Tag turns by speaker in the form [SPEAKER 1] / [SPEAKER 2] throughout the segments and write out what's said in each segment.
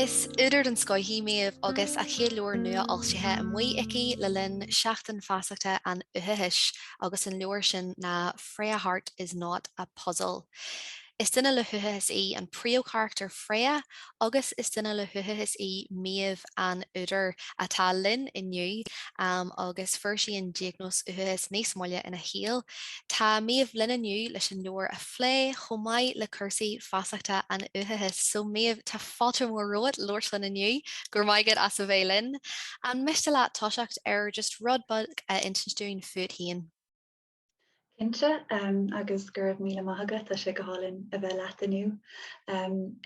[SPEAKER 1] Is údar den scoith í Méabh agus a céad leabhar nuafhoilsithe amuigh aici le linn Seachtain Feasachta an Uathachais agus an leabhar sin ná Freya Harte is Not a Puzzle. Is duine le huathachas í an príomhcharachtar Freya agus is duine le huathachas í Méabh, an údar, atá linn inniu agus fuair sí an diagnóis uathachais níos moille ina saol. Tá Méabh linn inniu leis an leabhar a phlé chomh maith le cúrsaí feasachta an uathachais. So Méabh, tá fáilte mhór romhat labhairt linn inniu. Go raibh maith agat as a bheith linn. An miste leat toiseacht ar just rud beag a insint dúinn fút féin? Cinnte agus go raibh míle maith agat, tá sé go hálainn a bheith leat inniu.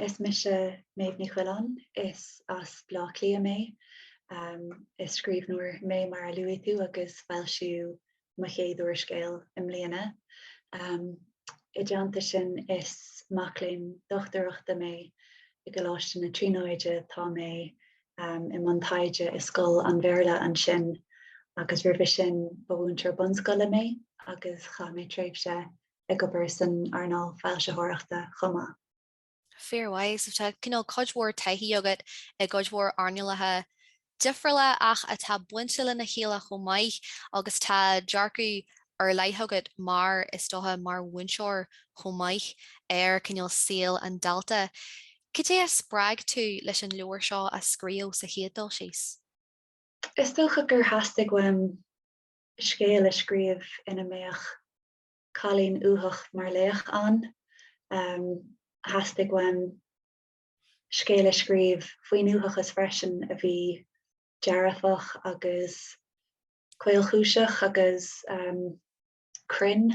[SPEAKER 1] Is mise Méabh Ní Choileáin, is as Bleá Cliath mé. Is scríbhneoir mé mar a luaigh tú agus foilsíodh mo chéad úrscéal i mbliana. I dteannta sin is mac léinn dochtúireachta mé i gColáiste na Tríonóide, tá mé um, i mbun taighde i scoil an Bhéarla ansin agus roimhe sin ba mhúinteoir bunscoile mé agus chaith mé tréimhse ag obair san earnáil foilsitheoireachta chomh maith. Fair play, so tá cineál cuid mhór taithí agat i gcuid mhór earnálacha difriúla ach atá bainte lena chéile chomh maith agus tá dearcadh ar leith agat mar is dócha mar mhúinteoir chomh maith ar chineál saol an dalta. Cad é a spreag tú leis an leabhar seo a scríobh sa chéad dul síos? Is dócha gur theastaigh uaim scéal a scríobh ina mbeadh cailín uathach mar laoch ann. Theastaigh uaim scéal a scríobh faoin uathachas freisin a bhí dearfach agus caolchúiseach agus cruinn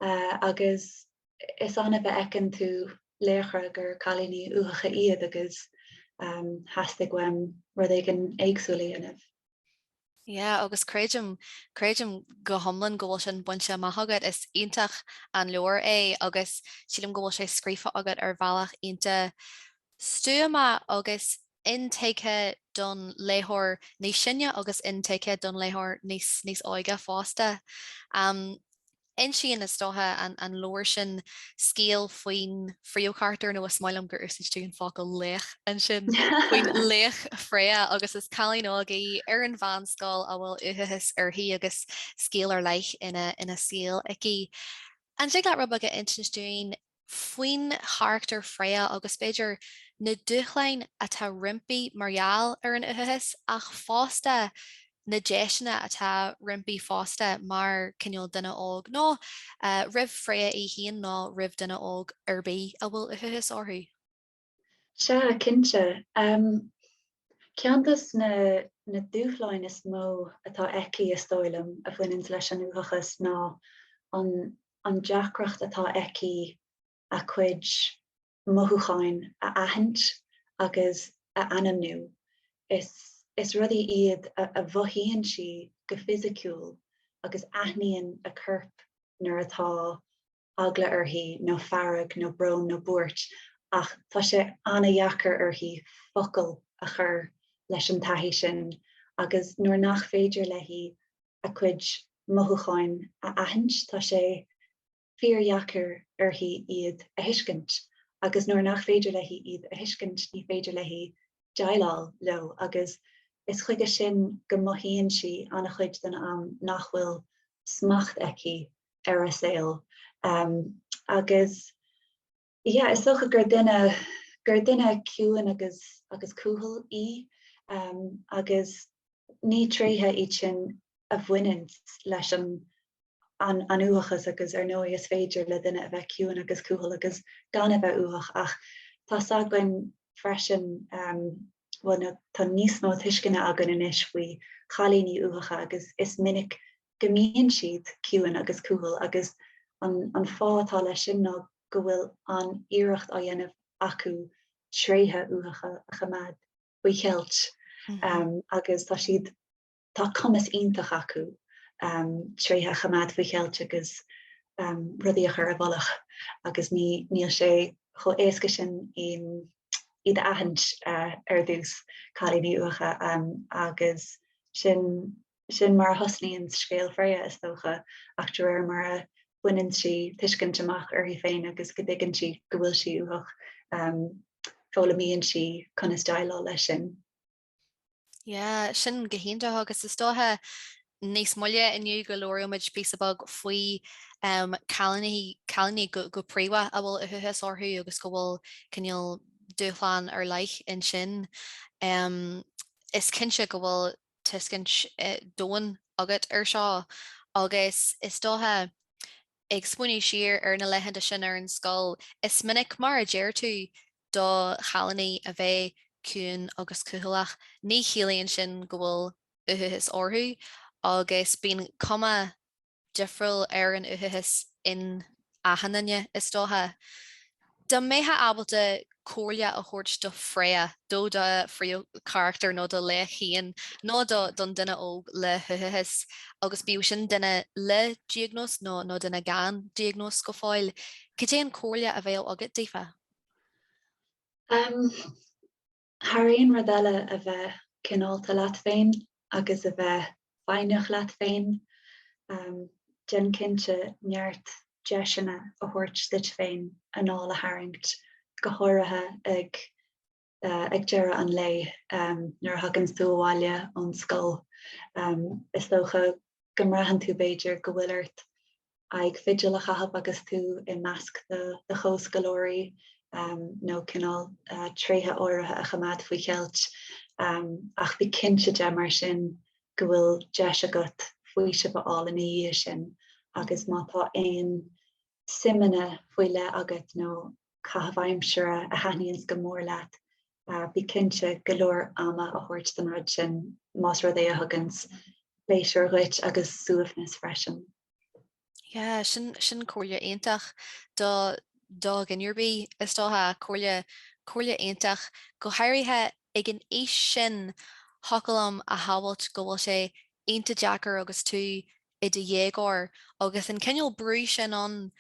[SPEAKER 1] agus is annamh a fheiceann tú laochra gur cailíní uathacha iad agus theastaigh uaim rud éigin éagsúil a dhéanamh. Yeah, agus creidim, creidim go hiomlán go bhfuil sin bainte amach agat. Is iontach an leabhar é agus sílim go bhfuil sé scríofa agat ar bhealach iontach stuama agus intuigthe don léitheoir níos sine agus intuigthe don léitheoir níos níos óige fosta. Insíonn, is dócha, an leabhar sin scéal faoin phríomhcharachtar, nó is maith liom gur úsáid tú an focal 'laoch' ansin, faoin laoch Freya agus is cailín óg í ar an mheánscoil a bhfuil uathachas uirthi agus scéal ar leith ina saol aici. An dtig leat rud beag a insint dúinn faoin charachtar Freya agus, b'fhéidir, na dúshláin atá roimpi mar gheall ar an uathachas ach fosta na deiseanna atá roimpi fosta mar cineál duine óg, nó roimh Freya í féin nó roimh duine óg ar bith a bhfuil uathachas orthu. Sea, cinnte. Ceann dos na na dúshláin is mó atá aici, is dóigh liom, a bhaineanns leis an uathachas ná an deacracht atá aici a cuid mothúcháin a aithint agus a ainmniú. Is is rudaí iad a a mhothaíonn sí go fisiciúil agus aithníonn a corp nuair atá eagla uirthi nó fearg nó brón nó buairt ach tá sé ana-dheacair uirthi focail a chur leis an taithí sin agus nuair nach féidir léi a cuid mothúcháin a aithint tá sé fíordheacair uirthi iad a thuiscint agus nuair nach féidir léi iad a thuiscint ní féidir léi déileáil leo agus is chuige sin go mothaíonn sí an-chuid den am nach bhfuil smacht aici ar a saol agus yeah is dócha gur duine gur duine ciúin agus agus cúthail í agus ní tréithe iad sin a bhaineann leis an an uathachas agus ar ndóigh is féidir le duine a bheith ciúin agus cúthail agus gan a bheith uathach ach tá a fhios againn freisin bhuel tá níos mó tuisceana againn anois faoi chailíní uathacha agus is minic go mbíonn siad ciúin agus cúthail agus an fáth atá leis sin ná go bhfuil an-iarracht á dhéanamh acu tréithe uathacha a choimeád faoi cheilt agus tá siad tá cumas iontach acu tréithe a choimeád faoi cheilt agus rudaí a chur i bhfolach agus níl sé chomh éasca sin iad a aithint ar dtús, cailíní uathacha agus sin sin mar a thosnaíonn scéal Freya is dócha ach de réir mar a bhaineann sí tuiscint amach uirthi féin agus go dtuigeann sí go bhfuil sí uathach, foghlaimíonn sí conas déileáil leis sin. Yeah, sin go hiontach agus is dóiche níos moille inniu go labhróimid píosa beag faoi um, cailíní go, go príomha a bhfuil uathachas orthu agus go bhfuil cineál dúshlán ar leith ansin. Um, is cinnte go bhfuil tuiscint eh, domhain agat ar seo agus is dóiche ag smaoineamh siar ar na laethanta sin ar an scoil, is minic mar a deir tú Do chailíní a bheith ciúin agus cúthaileach, ní chiallaíonn sin go bhfuil uathachas orthu, agus bíonn cuma difriúil ar an uathachas in achan duine, is dócha. Dá mbeithfeá ábalta comhairle a thabhairt do Freya, do do phríomhcharachtar nó do Laoighseach féin, nó don duine óg le huathachas, agus bíodh sin duine le diagnóis nó duine gan diagnóis go fóill, cad é an comhairle a bheadh agat daofa? Um, thar aon rud eile a bheith cineálta leat féin agus a bheith foighneach leat féin, um, déan cinnte neart deiseanna a thabhairt duit féin anáil a tharraingt, go háirithe ag ag deireadh an lae nuair a thaganns tú abhaile ón scoil. Is dócha go mbraitheann tú b'fhéidir go bhfuil ort aghaidh fidil a chaitheamh agus tú i measc do chomhscoláirí nó cineál tréithe áirithe a choimeád faoi cheilt. Ach bí cinnte de mar sin go bhfuil deis agat faoiseamh a fháil ina dhiaidh sin agus má tá aon suimeanna faoi leith agat nó caitheamh aimsire a thaitníonns go mór leat, bí cinnte go leor ama a thabhairt don rud sin, más rud é a thuganns pléisiúr dhuit agus suaimhneas freisin. Yeah, sin, sin comhairle iontach do, do dhuine ar bith, is dócha, comhairle, comhairle iontach, go háirithe ag an aois sin, thiocfadh liom a shamhailt go bhfuil sé iontach deacair agus tú i do dhéagóir agus an cineál brú sin ann,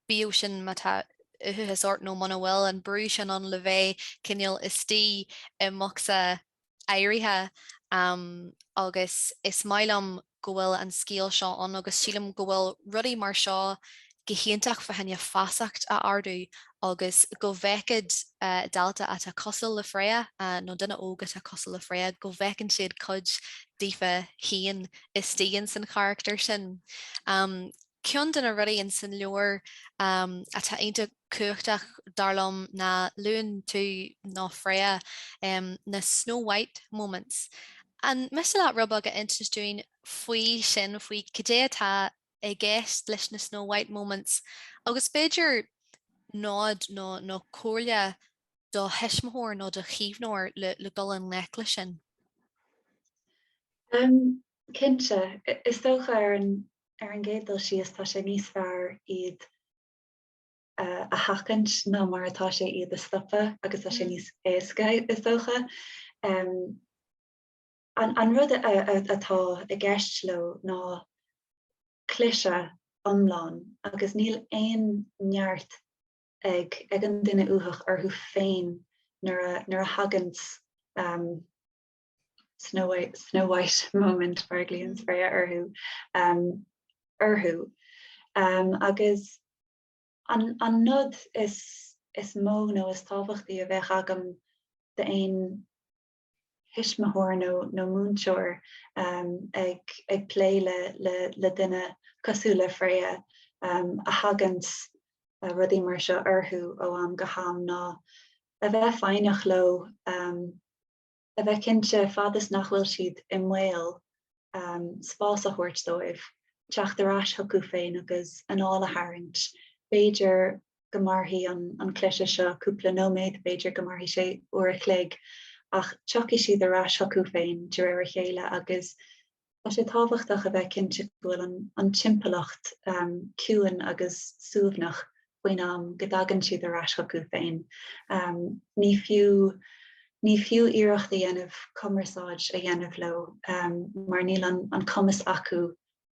[SPEAKER 1] bíodh sin má tá uathachas ort nó muna bhfuil, an brú sin ann le bheith cineál istigh i mbocsa áirithe agus is maith liom go bhfuil an scéal seo ann agus sílim go bhfuil rudaí mar seo go hiontach fá choinne feasacht a ardú agus go bhfeicfeadh dalta atá cosúil le Freya nó duine óg atá cosúil le Freya, go bhfeiceann siad cuid daofa féin istigh ins an charachtar sin. Ceann de na rudaí ins an leabhar atá iontach cumhachtach, dar liom, ná luann tú, nó Freya, na 'Snow White moments'. An miste leat rud beag a insint dúinn faoi sin, faoi cad é atá i gceist leis na Snow White Moments agus b'fhéidir nod nó comhairle do thuismitheoir nó do chaomhnóir le dul i ngleic leis sin? Cinnte. Is dócha, ar an gcéad dul síos, tá sé níos fearr iad a sheachaint ná mar atá sé iad a stopadh agus tá sé níos éasca, is dócha. An rud atá i gceist leo ná cliseadh iomlán agus níl aon neart ag an duine uathach orthu féin nuair a thagann Snow White moment mar a ghlaonn Freya orthu. Agus an nod is mó nó is tábhachtaí a bheadh agam d'aon thuismitheoir nó múinteoir ag plé le duine cosúil le Freya a thagann rudaí mar seo orthu ó am go ham ná a bheith foighneach leo, a bheith cinnte fad is nach bhfuil siad i mbaol spás a thabhairt dóibh teacht ar ais chucu féin agus anáil a tharraingt, b'fhéidir go mairfidh an an cliseadh seo cúpla nóiméad, b'fhéidir go mairfidh sé uair a chloig, ach tiocfaidh siad ar ais chucu féin de réir a chéile agus tá sé tábhachtach a bheith cinnte go bhfuil an an timpeallacht ciúin agus suaimhneach faoin am go dtagann siad ar ais chucu féin. Ní fiú ní fiú iarracht a dhéanamh cumarsáid a dhéanamh leo mar níl an cumas acu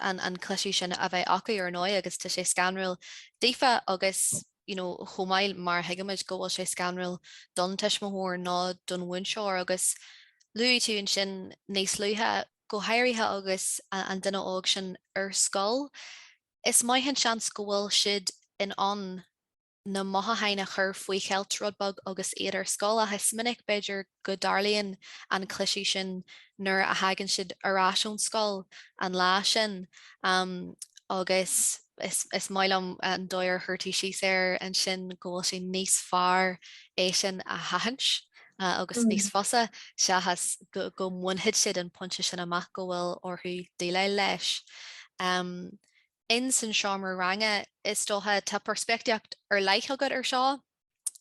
[SPEAKER 1] an cliseadh sin a bheith acu, ar ndóigh, agus tá sé scanrúil daofa agus, you know, chomh maith mar a thuigimid go bhfuil sé scanrúil don tuismitheoir nó don mhúinteoir agus luaigh tú ansin níos luaithe, go háirithe agus an duine óg sin ar scoil, is maith an seans go bhfuil siad in ann. na mothúcháin a chur faoi cheilt rud beag agus iad ar scoil ach is minic, b'fhéidir, go dtarlaíonn an cliseadh sin nuair a thagann siad ar ais ón scoil an lá sin agus is maith liom an dóigh ar chuir tú síos air ansin go bhfuil sé níos fearr é sin a sheachaint agus níos fusa seachas go mbainfidh siad an pointe sin amach go bhfuil orthu déileáil leis. in san seomra ranga, is dócha, tá peirspictíocht ar leith agat ar seo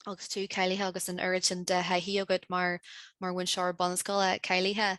[SPEAKER 1] agus tú cáilithe agus an oiread sin de thaithí agat mar mar mhúinteoir bunscoile cáilithe.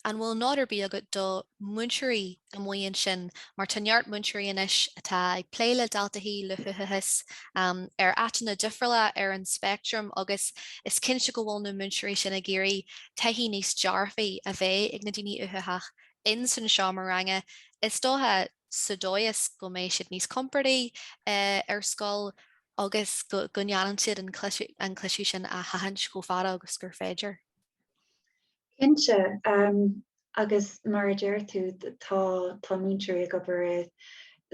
[SPEAKER 1] An bhfuil nod ar bith agat do mhúinteoirí amuigh ansin mar tá neart múinteoirí anois atá ag plé le daltaí le huathachas um, ar áiteanna difriúla ar an speictream agus is cinnte go bhfuil na múinteoirí sin ag iarraidh taithí níos dearfaí a bheith ag na daoine uathacha ins an seomra ranga, is dócha, sa dóigh is go mbeidh siad níos compordaí ar scoil agus go ndéanann siad an cliseadh sin a sheachaint chomh fada agus gur féidir. Cinnte, agus mar a deir tú, tá múinteoirí ag obair i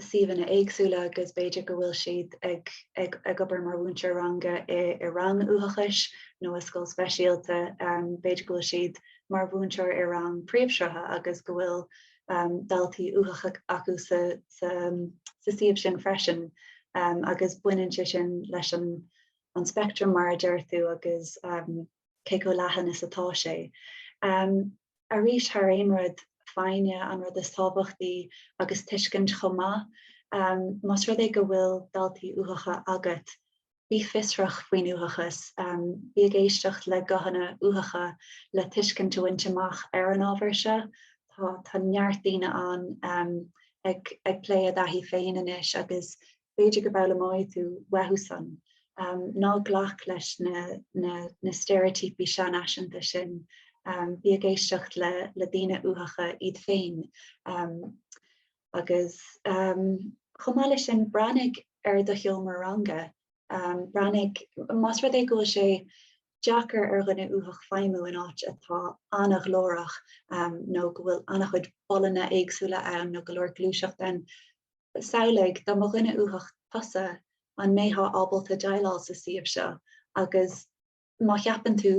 [SPEAKER 1] suíomhanna éagsúla agus b'fhéidir go bhfuil siad ag obair mar mhúinteoir ranga i rang uathachais nó i scoil speisialta, b'fhéidir go bhfuil siad mar mhúinteoir i rang príomhshrutha agus go bhfuil daltaí uathacha acu sa suíomh sin freisin agus baineann sé sin leis an speictream, mar a deir tú, agus cé chomh leathan is atá sé. Arís, thar aon rud, foighne an rud is tábhachtaí agus tuiscint chomh maith. Más rud é go bhfuil daltaí uathacha agat, Bí fiosrach faoin uathachas. Bí ag éisteacht le guthanna uathacha le tuiscint a bhaint amach ar an ábhar seo. Tá, tá neart daoine ann ag, ag plé a dtaithí féin anois agus b'fhéidir go bhfoghlaimeoidh tú uathu san. Ná glac leis na, na, na steiréitíopaí seanfhaiseanta sin. Bí ag éisteacht le, le daoine uathacha iad féin. Agus chomh maith leis sin, breathnaigh ar do sheomra ranga. Breathnaigh más rud é go bhfuil sé deacair ar dhuine uathach feidhmiú in áit atá an-ghlórach nó go bhfuil an-chuid bolaithe éagsúla ann nó go leor gluaiseacht ann. Samhlaigh, dá mba dhuine uathach tusa, an mbeifeá ábalta déileáil sa suíomh seo agus Má cheapann tú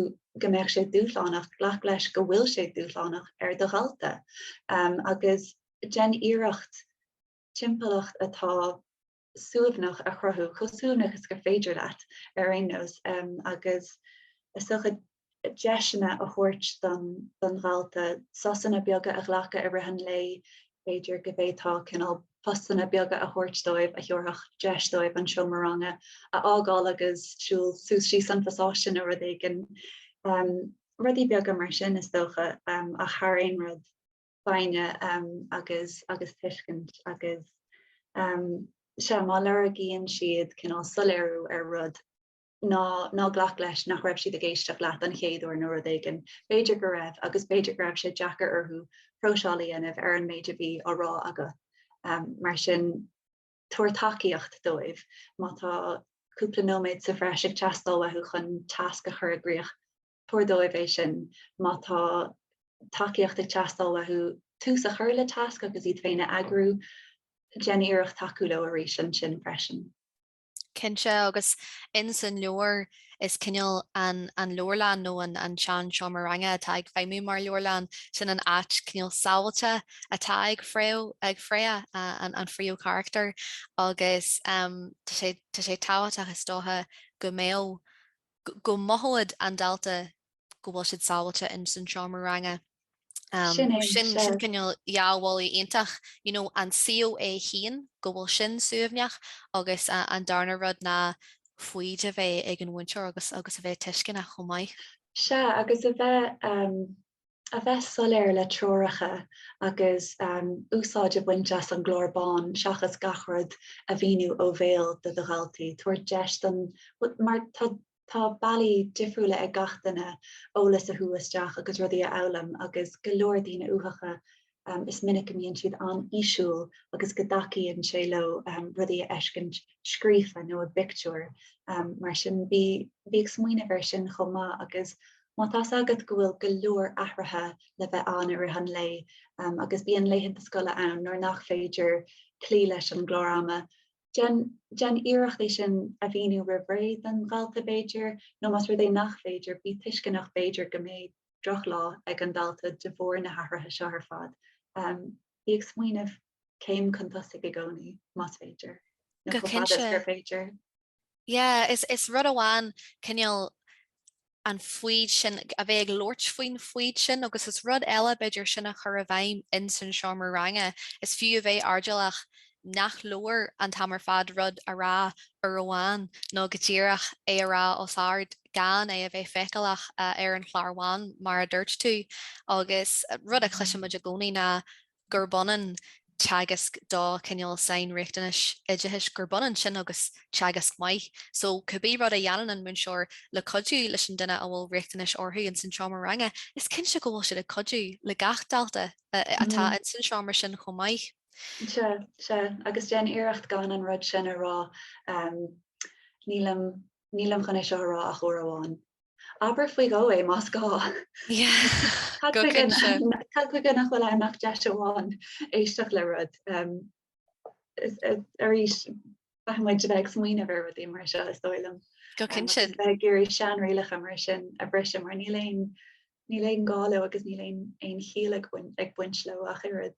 [SPEAKER 1] go mbeadh sé dúshlánach, glac leis go bhfuil sé dúshlánach ar do dhalta agus déan iarracht timpeallacht atá suaimhneach a chruthú, chomh suaimhneach is gur féidir leat, ar aon nós, agus is dócha deiseanna a thabhairt don dalta, sosanna beaga a ghlacadh i rith an lae B'fhéidir go bhféadfá cineál postanna beaga a thabhairt dóibh a thabharfadh deis dóibh an seomra ranga a fhágáil agus siúl suas síos an pasáiste nó rud éigin. Rudaí beaga mar sin is dócha ach thar aon rud, foighne agus agus tuiscint agus sea, má lorgaíonn siad cineál soiléiriú ar rud, ná ná glac leis nach raibh siad ag éisteacht leat an chéad uair nó rud éigin. B'fhéidir go raibh, agus b'fhéidir go raibh sé deacair orthu próiseáil a dhéanamh ar an méid a bhí á rá agat. Mar sin, tabhair tacaíocht dóibh. Má tá cúpla nóiméad sa bhreis ag teastáil uathu chun tasc a chur i gcrích, tabhair dóibh é sin. Má tá tacaíocht ag teastáil uathu tús a chur le tasc agus iad féin a eagrú, déan iarracht tacú leo arís ansin freisin. Cinnte, agus ins an leabhar is cineál an leabharlann nó an seanseomra ranga atá ag feidhmiú mar leabharlann, sin an áit cineál sábháilte atá ag Freya, an príomhcharachtar, agus tá sé tábhachtach, is dócha, go mbeadh go mothódh an dalta go bhfuil siad sábháilte ins an seomra ranga. Sin é, sin é. Sin cineál dhá bhealach iontach. You know, an chéad cheann, go bhfuil sin suaimhneach, agus an darna rud ná foighid a bheith ag an mhúinteoir agus a bheith tuisceanach chomh maith. Sea, agus a bheith a bheith soiléir le treoracha agus úsáid a bhaint as an gclár bán seachas gach rud a mhíniú ó bhéal do do dhalta, tabhair deis don, mar tá tá bealaí difriúla ag gach duine eolas a shú isteach agus rudaí a fhoghlaim agus go leor daoine uathacha is minic a mbíonn siad an-fhísiúil agus go dtacaíonn sé leo rudaí a fheiscint scríofa nó i bpictiúir, mar sin bí bí ag smaoineamh air sin chomh maith agus má tá's agat go bhfuil go leor athruithe le bheith ann i rith an lae agus bíonn laethanta scoile ann nuair nach féidir cloí leis an gclár ama, déan déan iarracht é sin a mhíniú roimh ré don dhalta b'fhéidir, nó más rud é nach féidir, bí tuisceanach b'fhéidir go mbeidh. droch lá ag an dalta de bharr na hathruithe seo ar fad. Bí ag smaoineamh céim chun tosaigh i gcónaí, más féidir, nó chomh fada is gur féidir. Yeah, is is rud amháin cineál an fhadhb sin, a bheith ag labhairt faoin fhadhb sin, agus is rud eile b'fhéidir sin a chur i bhfeidhm ins an seomra ranga, is fiú a bheith airdeallach nach leor an t-am ar fad rud a rá uair amháin, nó go díreach é a rá os ard. gan é a bheith feiceálach ar an chlár bhán, mar a dúirt tú, agus rud a chloiseann muid i gcónaí ná gurb ionann teagasc do cineál sainriachtanais oideachais, gurb ionann sin agus teagasc maith. So cibé rud a dhéanann an múinteoir le cuidiú leis an duine a bhfuil riachtanais orthu ins an seomra ranga, is cinnte go bhfuil siad ag cuidiú le gach dalta atá ins an seomra sin chomh maith. Sea, sea. Agus déan iarracht gan an rud sin a rá, nílim. Nílim chun é seo a rá ach uair amháin. Abair faoi dhó é más gá. Cad chuige nach bhfuil ann ach deis amháin éisteacht le rud. Arís, caithfidh muid a bheith ag smaoineamh ar rudaí mar seo, is dóigh liom. Go cinnte. Agus a bheith ag iarraidh seanrialacha mar sin a bhriseadh, mar níl aon gá leo agus níl aon chiall ag baint leo ach oiread.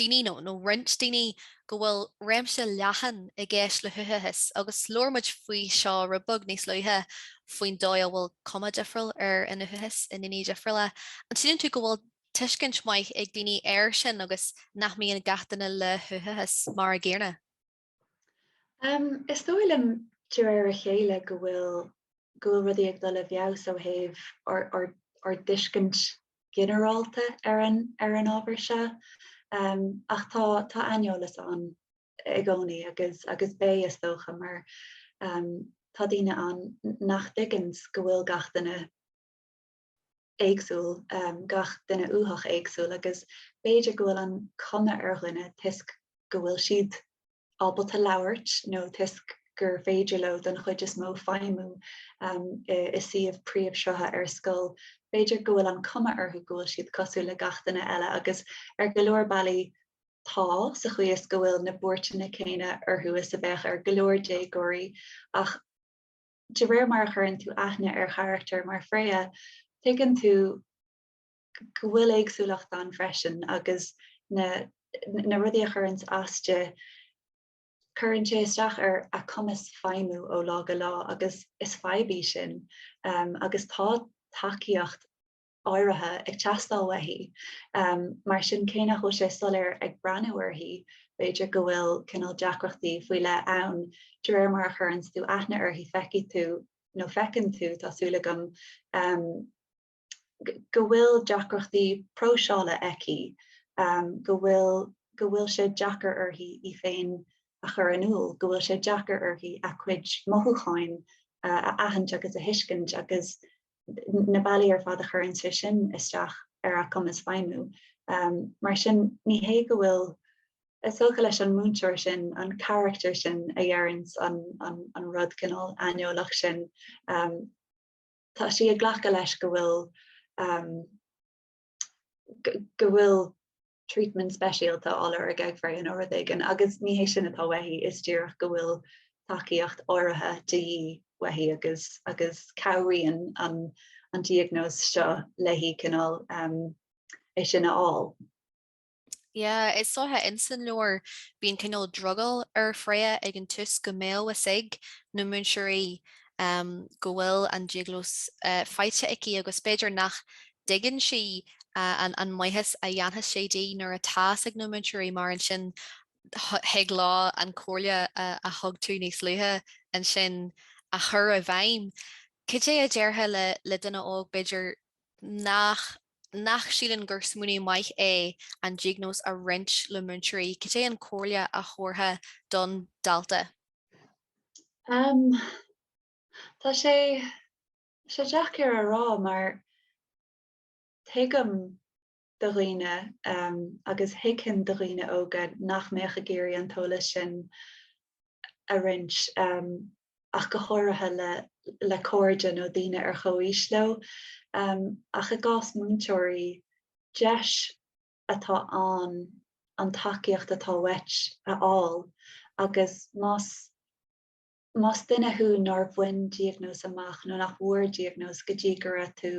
[SPEAKER 1] daoine nó nó roinnt daoine go bhfuil réimse leathan i gceist le huathachas agus labhair muid faoi seo rud beag níos luaithe faoin dóigh a bhfuil cuma difriúil ar an uathachas i ndaoine difriúla. An síleann tú go bhfuil tuiscint maith ag daoine air sin agus nach mbíonn gach duine le huathachas mar an gcéanna? Um, is dóigh liom de réir a chéile go bhfuil go bhfuil rudaí ag dul i bhfeabhas ó thaobh ár, ár, ár dtuiscint ginearálta ar an, ar an ábhar seo. Um, ach tá, tá aineolas ann i gcónaí agus, agus beidh, is dócha, mar um, tá daoine ann nach dtuigeanns go bhfuil gach duine éagsúil, gach duine uathach éagsúil, agus b'fhéidir go bhfuil an chuma ar dhuine toisc go bhfuil siad ábalta labhairt nó toisc gur féidir leo don chuid is mó feidhmiú i suíomh príomhshrutha ar scoil, b'fhéidir go bhfuil an chuma orthu go bhfuil siad cosúil le gach duine eile agus ar go leor bealaí tá, sa chaoi is go bhfuil na buairteanna céanna orthu is a bheadh ar go leor déagóirí ach, de réir mar a chuireann tú aithne ar charachtar mar Freya, tuigeann tú go bhfuil éagsúlacht ann freisin agus na na rudaí a chuireanns as di, cuireann sé isteach ar a cumas feidhmiú ó lá go lá agus is fadhb í sin agus tá tacaíocht áirithe ag teastáil uaithi. Mar sin, cé nach bhfuil sé soiléir ag breathnú uirthi, b'fhéidir go bhfuil cineál deacrachtaí faoi leith ann, de réir mar a chuireanns tú aithne uirthi feicfidh tú, nó feiceann tú, tá súil agam, go bhfuil deacrachtaí próiseála aici, go bhfuil go bhfuil sé deacair uirthi í féin a chur in iúl, go bhfuil sé deacair uirthi a cuid mothúcháin a aithint agus a thuiscint agus na bealaí ar fad a chuireanns é sin isteach ar a cumas feidhmiú. Mar sin, ní hé go bhfuil sí olc leis an múinteoir sin, an carachtar sin a dheireanns an rud cineál aineolach sin. Tá sí ag glacadh leis go bhfuil, go bhfuil treatment speisialta á lorg ag Freya nó rud éigin agus ní hé sin atá uaithi, is díreach go bhfuil tacaíocht áirithe de dhíth uaithi agus agus cabhraíonn an an diagnóis seo léi cineál um, é sin a fháil. Yeah, is so insan leabhar bíonn cineál drogall ar Freya ag an tús go mbeadh a fhios ag na múinteoirí um, go bhfuil an diagnóis uh, faighte aici agus b'fhéidir nach dtuigeann sí an maitheas a dhéanfas sé di nuair atá a fhios ag na múinteoirí mar ansin thig leo an comhairle a thug tú níos luaithe ansin a chur i bhfeidhm. Cad é a déarfá le duine óg, b'fhéidir, nach nach síleann gur smaoineamh maith é an diagnóis a roinnt le múinteoirí, cad é an comhairle a thabharfá don dalta? Tá sé. sé deacair a rá mar tuigim do dhaoine agus thuigfinn do dhaoine óga nach mbeadh ag iarraidh an t-eolas sin a roinnt ach go háirithe le cairde nó daoine ar chomhaois leo ach i gcás múinteoirí, deis atá ann an tacaíocht atá uait a fháil agus más. Más duine thú nár bhain diagnóis amach nó nach bhfuair diagnóis go dtí go raibh tú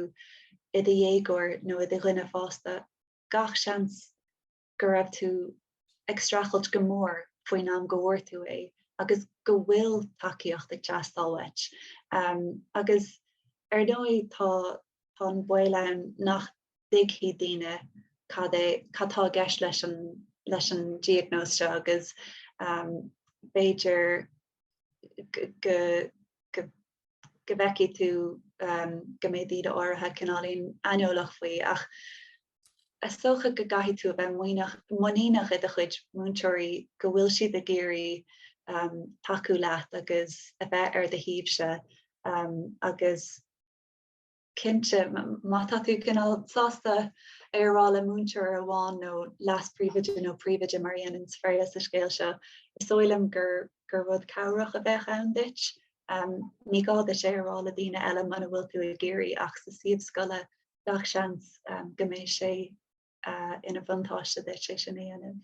[SPEAKER 1] i do dhéagóir nó i do dhuine fásta, gach seans go raibh tú ag streachailt go mór faoin am go bhfuair tú é agus go bhfuil tacaíocht ag teastáil uait. Agus ar ndóigh tá an baol ann nach. dtuigfidh daoine cad é, cad tá i gceist leis an, leis an diagnóis seo agus b'fhéidir go, go, go bhfeicfidh tú go mbeidh daoine áirithe cineáilín aineolach faoi ach is dócha go gcaithfidh tú a bheith muíneach, muiníneach i do chuid múinteoirí go bhfuil siad ag iarraidh tacú leat agus a bheith ar do thaobhsa agus. Cinnte, má tá tú cineál sásta é a rá le múinteoir amháin nó leas-príomhoide nó príomhoide mar a dhéanann Sadhbh sa scéal seo, is dóigh liom gur gur rud cabhrach a bheadh ann duit. Um, ní gá duit é a rá le daoine eile muna bhfuil tú ag iarraidh ach sa suíomh scoile gach seans um, go mbeidh sé ina bhuntáiste duit é sin a dhéanamh.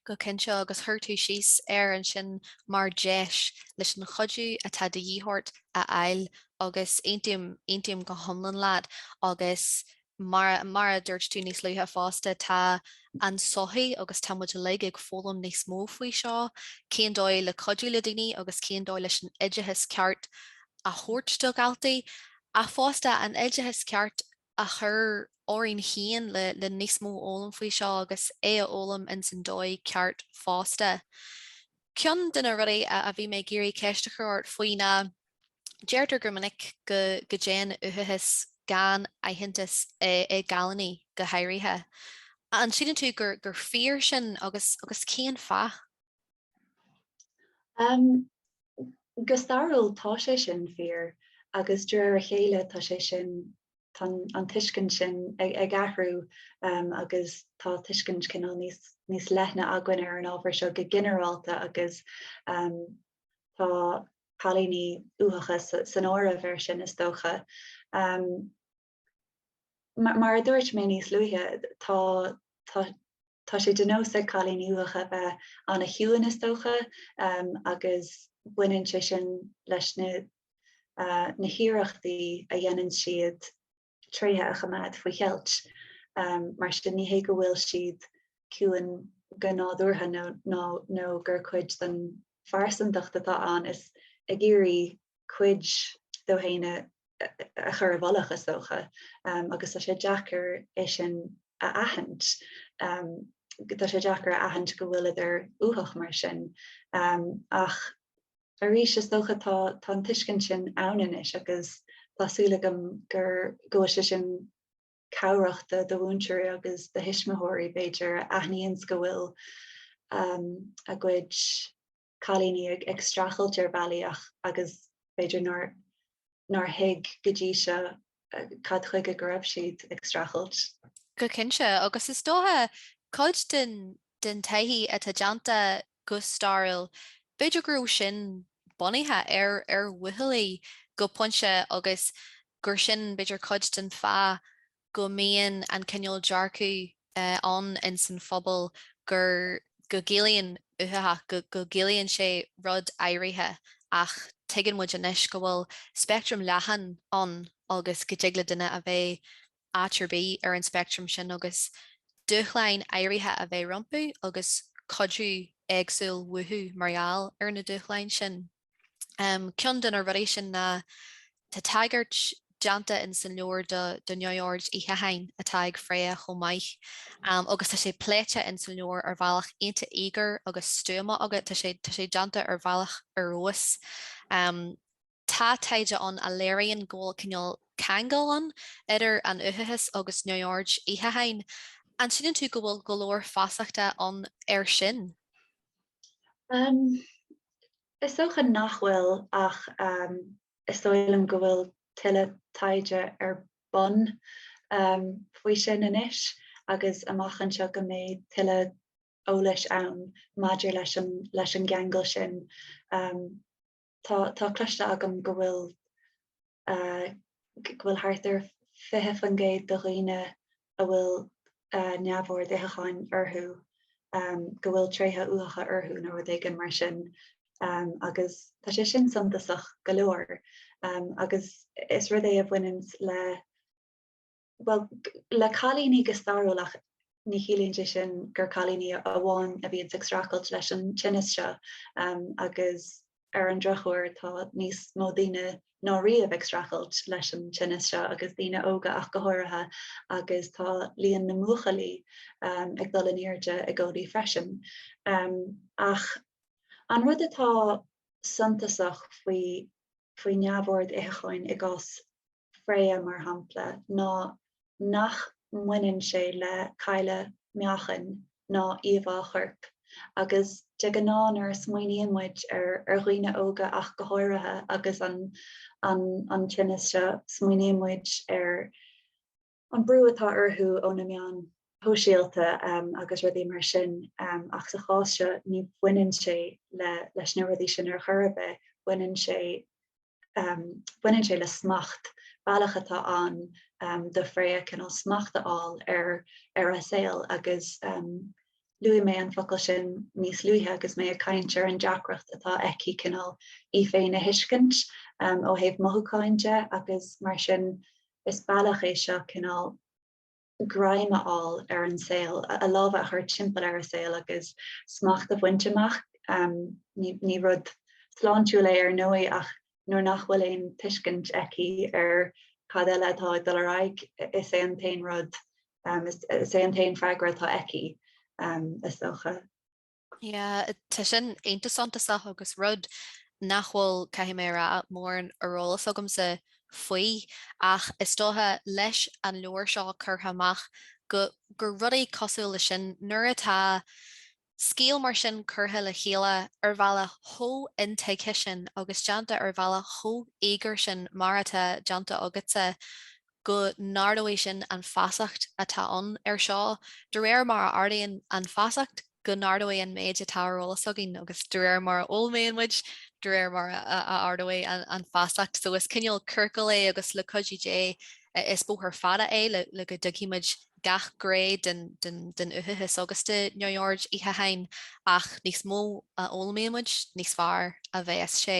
[SPEAKER 1] Go cinnte, agus chuir tú síos air ansin mar dheis leis an chuidiú atá de dhíth ort a fháil agus aontaím, aontaím go hiomlán leat agus mar, mar a dúirt tú níos luaithe fosta, tá an tsochaí agus tá muid uilig ag foghlaim níos mó faoi seo, cén dóigh le cuidiú le daoine agus cén dóigh leis an oideachas ceart a thabhairt do dhaltaí, ach fosta an oideachas ceart a chur orainn féin le níos mó a fhoghlaim faoi seo agus é a fhoghlaim ins an dóigh ceart fosta. Ceann de na rudaí a bhí mé ag iarraidh ceist a chur ort faoi ná, deirtear go minic go dtéann uathachas gan aitheantas i gcailíní go háirithe. An síleann tú gur fíor sin agus cén fáth? Um, go stairiúil tá sé sin fíor agus de réir a chéile tá sé sin tá an tuiscint sin ag, ag athrú um, agus tá tuiscint cineál níos, níos leithne againn ar an ábhar seo go ginearálta agus um, tá cailíní uathacha san áireamh ar sin is dócha. Um, Mar a dúirt mé níos luaithe, tá sé de nós ag cailíní uathacha bheith an-chiúin, is dócha, agus baineann sé sin leis na hiarrachtaí a dhéanann siad tréithe a choimeád faoi cheilt. Mar sin, ní hé go bhfuil siad ciúin go nádúrtha nó gur cuid den phearsantacht atá ann is ag iarraidh cuid dóibh féin a chur i bhfolach, is dócha, agus tá sé deacair é sin a aithint, tá sé deacair a aithint go bhfuileadar uathach mar sin. Ach arís, is dócha, tá an tuiscint sin ann anois agus tá súil agam go bhfuil sé sin cabhrachta do mhúinteoirí agus do thuismitheoirí, b'fhéidir, a aithníonns go bhfuil a gcuid cailíní ag streachailt ar bhealaí éagsúla agus b'fhéidir nár thuig go dtí seo cad chuige go raibh siad ag streachailt. Go cinnte, agus is dócha cuid den taighde atá déanta Go stairiúil, b'fhéidir go raibh sin bunaithe ar, ar bhuachaillí go pointe agus gur sin b'fhéidir cuid den fáth go mbíonn an cineál dearcaidh ann ins an phobal gur, go gciallaíonn uathachas, go gciallaíonn sé rud áirithe ach tuigeann muid anois go bhfuil speictream leathan ann agus go dtig le duine a bheith. áit ar bith ar an speictream sin agus dúshláin áirithe a bheith rompu agus cuidiú éagsúil uathu mar gheall ar na dúshláin sin. Ceann de na rudaí sin ná, tá tagairt déanta ins an leabhar do neamhord itheacháin atá ag Freya chomh maith agus tá sé pléite ins an leabhar ar bhealach iontach íogair agus stuama agat, tá sé déanta ar bhealach ar fheabhas. Tá taighde ann a léiríonn go bhfuil cineál ceangal ann idir an uathachas agus neamhoird itheacháin. An síleann tú go bhfuil go leor feasachta ann air sin? Is dócha nach bhfuil ach is dóigh liom go bhfuil tuilleadh taighde ar bun faoi sin anois agus amach anseo go mbeidh tuilleadh eolais ann maidir leis an gceangal sin. Tá cloiste agam go bhfuil, go bhfuil thart ar 20% de dhaoine a bhfuil neamhord itheacháin orthu, go bhfuil tréithe uathacha orthu nó rud éigin mar sin agus tá sé sin suntasach go leor agus is rud é a bhaineanns le Bhuel, le cailíní go stairiúlach, ní chiallaíonn sé sin gur cailíní amháin a bhíonns ag streachailt leis an tinneas seo agus ar an drochuair tá níos mó daoine ná riamh ag streachailt leis an tinneas seo agus daoine óga ach go háirithe agus tá líon na mbuachaillí ag dul in airde i gcónaí freisin. Ach an rud atá suntasach faoi faoi neamhord itheacháin i gcás Freya, mar shampla, ná nach mbaineann sé le cailleadh meáchain ná íomhá choirp, agus de ghnáth nuair a smaoiníonn muid ar dhaoine óga ach go háirithe agus an tinneas seo, smaoiníonn muid ar. an brú atá orthu ó na meáin shóisialta agus rudaí mar sin ach sa chás seo ní bhaineann sé leis na rudaí sin ar chor ar bith, baineann sé baineann sé le smacht, bealach atá ann do Freya cineál smacht a fháil ar ar a saol agus luaigh mé an focal sin níos luaithe agus mé ag caint ar an deacracht atá aici cineál í féin a thuiscint ó thaobh mothúcháin de agus mar sin Is bealach é seo cineál greim a fháil ar an saol, a lámha a chur timpeall ar an saol agus smacht a bhaint amach. Ní rud sláintiúil é ar ndóigh ach nuair nach bhfuil aon tuiscint aici ar cad eile atá ag dul ar aghaidh, is é an t-aon rud, is é an t-aon freagra atá aici, is dócha. Yeah, tá sin iontas suntasach agus rud nach bhfuil, caithfidh mé a rá, mórán ar eolas agamsa faoi, ach is dócha, leis an leabhar seo curtha amach, go, go rudaí cosúil leis sin, nuair atá scéal mar sin curtha le chéile ar bhealach chomh intuigthe sin agus déanta ar bhealach chomh íogair sin mar atá déanta agatsa, go n-ardóidh sin an feasacht atá ann ar seo, de réir mar a ardaíonn an feasacht, go n-ardóidh an méid atá ar eolas againn, agus de réir mar a fhoghlaimíonn muid, de réir mar a ardóidh an feasacht. So is cineál ciorcail é agus le cuidiú Dé, is bóthar fada é le go dtuigfidh muid gach gné den uathachas agus de neamhord itheacháin, ach níos mó a fhoghlaimíonn muid, níos fearr a bheas sé.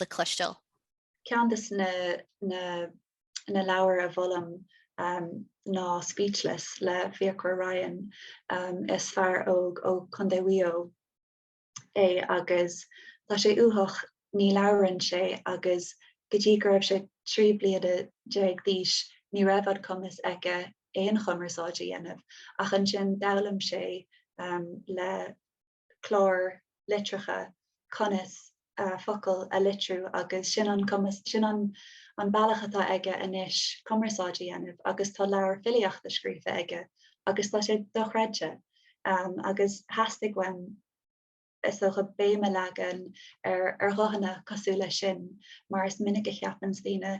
[SPEAKER 1] le cloisteáil. Ceann de na leabhair a mholaim ná Speechless le Fiacre Ryan. Is fear óg ó Chontae Mhaigh Eo é agus tá sé uathach, ní labhraíonn sé agus go dtí go raibh sé 13 bliana d'aois ní raibh an cumas aige aon chumarsáid a dhéanamh ach ansin d'fhoghlaim sé le clár litreacha, conas focail a litriú agus sin an cumas, sin an an bealach atá aige anois cumarsáid a dhéanamh agus tá leabhar filíochta scríofa aige agus tá sé dochreidte agus theastaigh uaim is dócha béim a leagan ar ar ghuthanna cosúil leis sin mar is minic a cheapanns daoine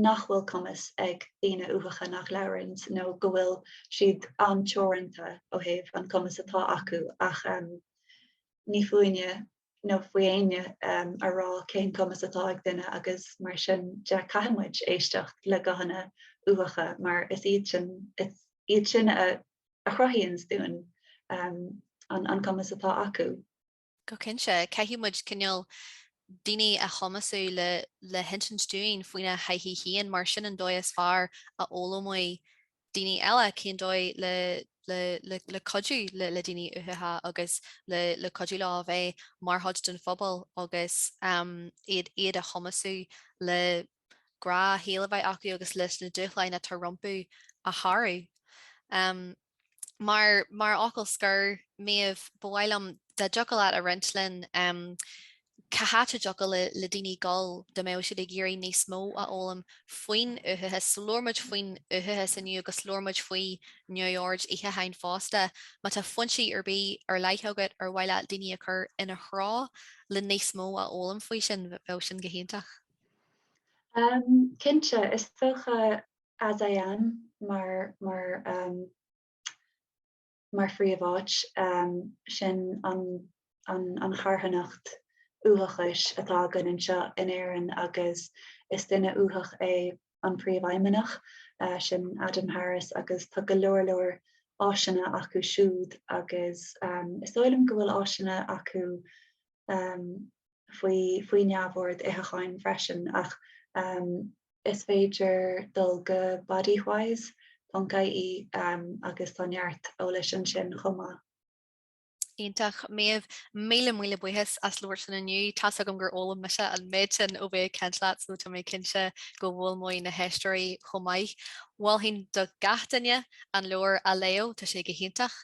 [SPEAKER 1] nach bhfuil cumas ag daoine uathacha nach labhranns nó go bhfuil siad an-teoranta ó thaobh an cumas atá acu ach ní fúinne nó faoi éinne a rá cén cumas atá ag duine agus mar sin de caithfidh muid éisteacht le guthanna uathacha mar is iad sin is iad sin a chruthaíonns dúinn an cumas atá acu. Go cinnte, caithfidh muid cineál daoine a chumasú le le hinsint dúinn faoina dtaithí féin mar sin an dóigh is fearr a fhoghlaimeoidh daoine eile cén dóigh le le le cuidiú le le daoine uathacha agus le le cuidiú leo a bheith mar chuid den phobal agus iad iad a chumasú le rogha saoil a bheith acu agus leis na dúshláin atá rompu a shárú. Mar, mar fhocal scoir, Méabh, ba mhaith liom dá dtiocfadh leat a roinnt linn cá háit a dtiocfadh le, le daoine dul, dá mbeadh siad ag iarraidh níos mó a fhoghlaim faoin uathachas. Labhair muid faoin uathachas inniu agus labhair muid faoi neamhord itheacháin fosta. Má tá foinsí ar bith ar leith agat ar mhaith leat daoine a chur ina dtreo le níos mó a fhoghlaim faoi sin, bheadh sin go hiontach. Cinnte, is dócha AsIAm mar phríomháit, sin an charthanacht uathachais atá againn anseo in Éirinn agus is duine uathach é an Príomhfheidhmeannach, sin Adam Harris agus tá go leor leor áiseanna acu siúd agus is dóigh liom go bhfuil áiseanna acu faoi neamhord itheacháin freisin ach is féidir dul go bodywhys.ie agus tá neart eolais ansin chomh maith. Iontach, Méabh, míle míle buíochas as labhairt linn inniu, tá's agam gur fhoghlaim mise an méid sin ó bheith ag caint leat nó tá mé cinnte go bhfoghlaimeoidh na héisteoirí chomh maith. Mholfainn do gach duine an leabhar a léamh, tá sé go hiontach.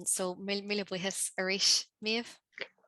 [SPEAKER 1] So, míle míle buíochas arís, Méabh.